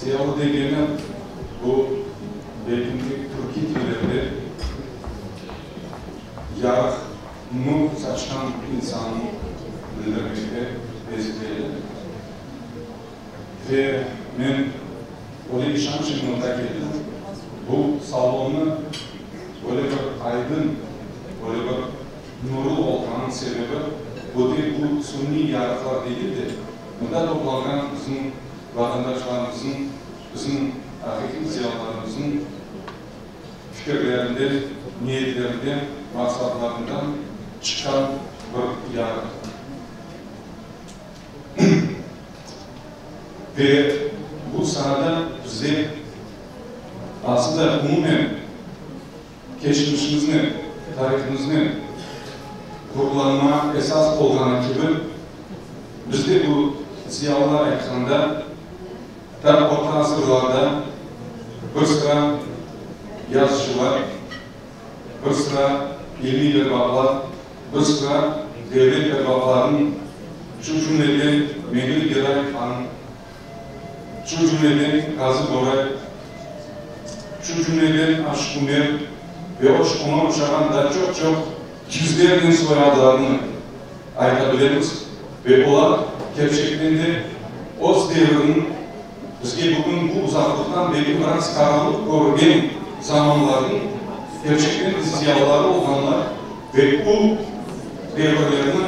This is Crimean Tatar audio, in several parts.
Siyavı degeni, bu belki türkiy tillerge yarıq nur saçqan insannı bildirmege bezetiledi. Ve men öyle işanç ile mında keldim, bu salonnı böyle bir aydın, böyle bir Nurlu olğanıñ sebebi, öte bu suniy yarıqlar degil de, mında toplanğan bizim vatandaşlarımıznıñ, bizim aqiqiy zıyalılarımıznıñ fikirlerinden, niyetlerinden, maqsatlarından çıqqan bir yarıq. Ve bu sanada bize, asılda, umumen, Keçmişimiznen, tarihimiznen gururlanma esas olğanı kibi, bizde bu, ziyalılar aytqanda, ta orta asırlarda bir sıra yazıcılar, bir sıra ilmiy erbaplar, bir sıra devlet erbaplarınıñ, şu cümleden Mevlüt Gedayev hanıñ, Şu cümleden Qazıboray, şu cümleden Aşkumer ve oşqunı oşağan da çoq-çoq yüzlernen soyadlarnı ayta bilemiz ve olar, kerçekten de, öz devriniñ, bizge bugün bu uzaqlıqtan belki biraz qaranlıq körüngen zamanlarnıñ kerçekten de ziyalıları olğanlar. Ve bu devirlerni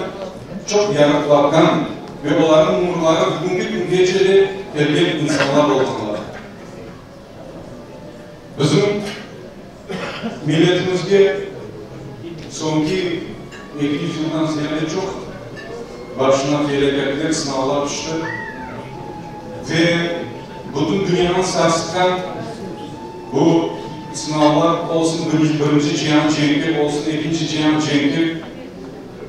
çoq yarıqlardan ve olarnıñ umurları bugüngi küngece de kelgen insanlar olğanlar. Bizim milletimizge soñki eki yüz yıldan ziyade çoq başına felâketler, sınavlar tüşti. Ve bütün dünyanı sarsıtqan Bu sınavlar olsun birinci cihan cenki, olsun ekinci cihan cenki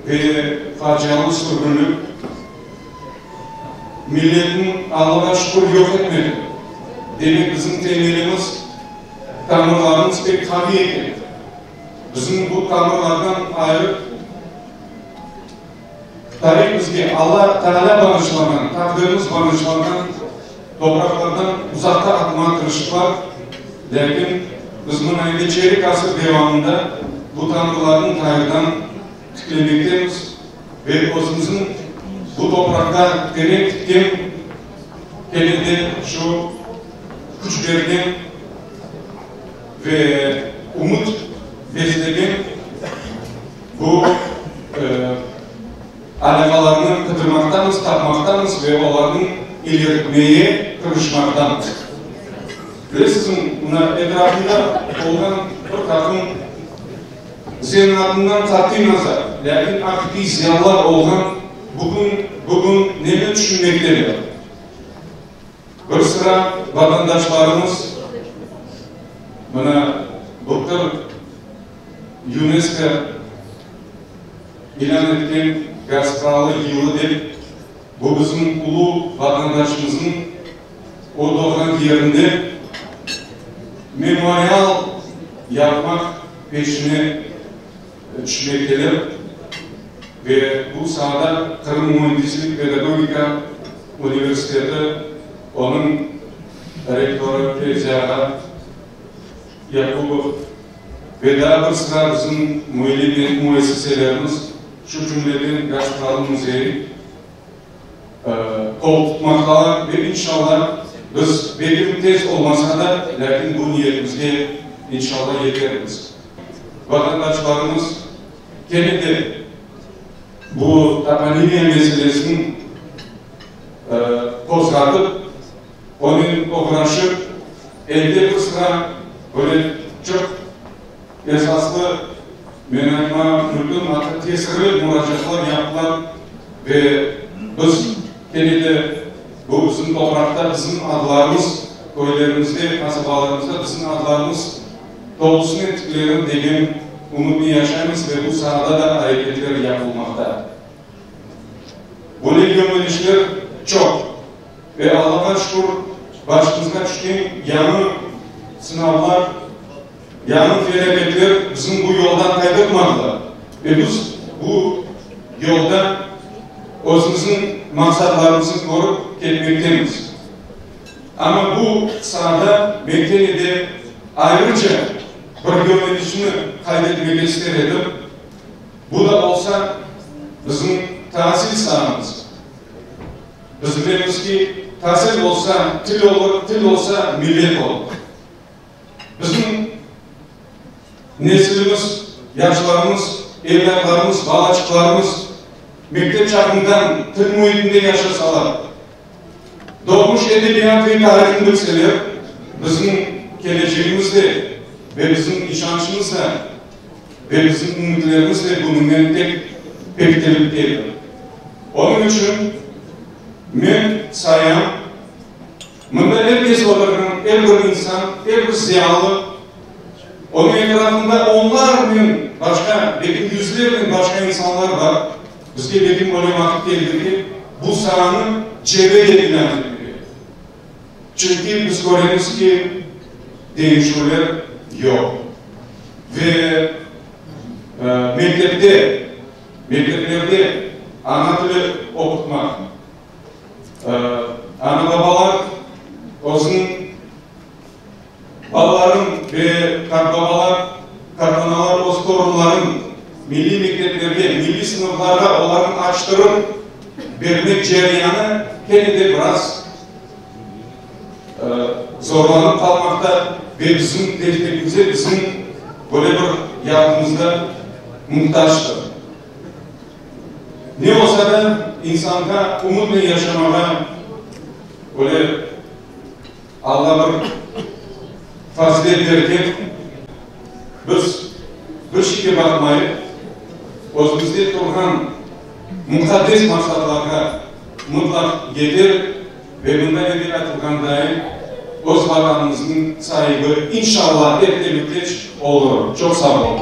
ve facialı sürgünlik milletni Allağa şükür yoq etmedi. Demek bizim temelimiz, tamırlarımız pek qaviy eken. Bizim bu tamırlardan ayrı. Tarihimizge Alla Taalâ bağışlağan, taqdirimiz bağışlağan topraqlardan uzaqta atılan tırışıqlar, lâkin biz mına indi çeyrek asır devamında bu tanrılarnı qayırdan tiklemektemiz ve özümüzniñ bu topraqta tene tikken kene de şu küçlerden ve ümüt beslegen Bu alâqalarnı qıdırmaqtamız, tapmaqtamız ve olarnı ileritmege tırışmaqtamız. Bilesiñizmi, mına etrafımda olğan bir taqım señiñ adından qat'iy nazar, lâkin aqiqiy ziyalılar olğan bugün, bugün neni tüşünmekteler? Bir sıra vatandaşlarımız mına bu tır UNESCO ilân etken Gaz Kralı yılı dep, bu bizim ulu vatandaşımıznıñ o doğğan yerinde memorial yapmaq peşine tüşmekteler ve bu saada Qırım müendislik pedagogika universiteti onıñ rektorı Fevzi ağa Yakubov ve daa bir sıra bizim müellim müessiselerimiz, şu cümleden Gazprom müzeyi qol tutmaqtalar ve inşalla biz belki tez olmasa da, lâkin bu niyetimizge inşalla yetermiz. Vatandaşlarımız kene de bu toponimiya meselesini qozğatıp, Onen oturashıp, elde bir sıra böyle çoq esaslı, men aytma mümkün, atta tesirli muracaatlar yaptılar ve biz kene de bu bizim topraqta bizim adlarımız, köylerimizde, qasabalarımızda bizim adlarımız tolusınen tiklenir degen ümütni yaşaymız ve bu saada da areketler yapılmaqta. Böyle yönelişler çoq. Ve Allağa şükür, başımızğa tüşken yañı sınavlar, yañı felâketler bizim bu yoldan qaydırmadılar. Ve biz bu yolda özümizniñ maqsatlarımıznı körip ketmektemiz. Amma bu saada men kene de ayrıca bir yönelişni qayd etmege ister edim, bu da bolsa bizim taasil saamız. Biz bilemiz ki, tasil bolsa, til olur, til olsa, millet olur. Bizim nesilimiz, yaşlarımız, evlâtlarımız, balaçıqlarımız mektep çağından til müitinde yaşasalar, doğmuş edebiyat ve tarihını bilseler, bizim kelecegimiz de ve bizim işançımız da, ve bizim ümütlerimiz de bunıñnen pek bektilip edi. Onıñ içün men sayam, mında er kes oturğan er bir insan, er bir zıyalı, onıñ etrafında onlarnen başqa, belki yüzlernen başqa insanlar bar, bizge belki böyle vaqıt keldi ki, bu saanı cebe yekâne etmege. Çünki biz köremiz ki, deñişüvler yoq. Ve mektepte, mekteplerde ana tili oqutmaq, ana-babalar özüniñ. Balalarım ve qartbabalar, qartanalar öz torunların milliy mekteplerge, milliy sınıflarğa olarnı açtırıp bermek cereyanı kene de biraz zorlanıp qalmaqta ve bizim destekimizge, bizim böyle bir yardımımızğa muhtactır. Ne olsa da insanğa umutnen yaşamağa böyle Alla bir fazilet berken, biz bir şeyge baqmayıp, özümizde turğan muqaddes maqsadlarğa mıtlaq yeterik ve mında evel aytılğandayi, öz Vatanımıznıñ saibi, inşalla, ertemitleç olurıq. Çoq sağ olunız.